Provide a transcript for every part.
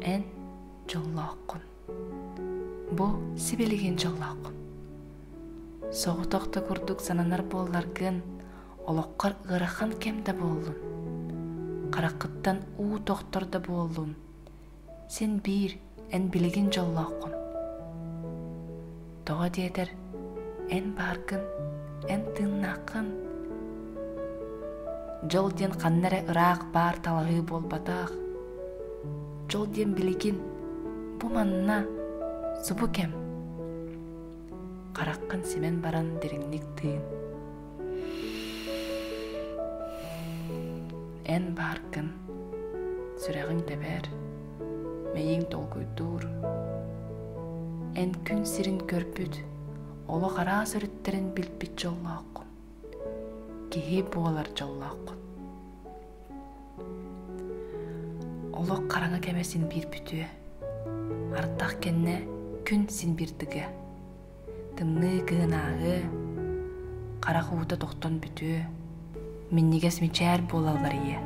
Эн дьоллооххун. Бу сибилигин дьоллооххун. Соҕотох да курдук сананар буолларгын, олоххор ыарахан кэм да буоллун. Хараххыттан уу тохтор да буоллун, син биир эн билигин дьоллооххун тоҕо диэтэр эн бааргын эн тыыннааххын дьол диэн ханна эрэ ыраах баар талаһыы буолбатах дьол диэн билигин бу манна субу кэм хараххын симэн баран дириҥник тыын эн бааргын сүрэҕиҥ тэбээр мэйииҥ толкуйдуур эн күн сирин көрбүт олох араас өрүттэрин билбит дьоллооххун киһи буолар дьоллооххун Олох хараҥа кэмэ син биир бүтүө. Ардах кэннэ күн син биир дыга. Тымныы кыһын ааһыа, харах уута тохтон бүтүө, минньигэс мичээр буолаллар ийэ.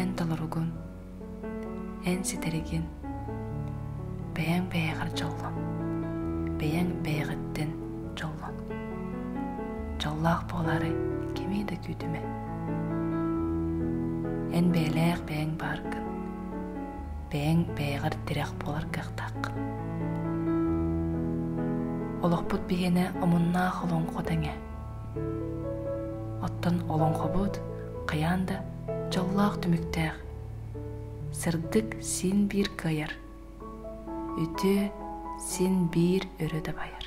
Эн толоругун эн ситэригин бэйэҥ бэйэҕэр дьоллон бэйэҥ бэйэҕиттэн дьоллон дьоллоох буолаары кимий да күүтүмэ эн бэйэлээх бэйэҥ бааргын бэйэҥ бэйэҕэр тирэх буолар кыахтааххын олохпут биһиэнэ омуннаах олоҥхо тэҥэ оттон олоҥхобут хайаан да дьоллоох түмүктээх сырдык син биир кыайар үтүө син биир өрө дабайар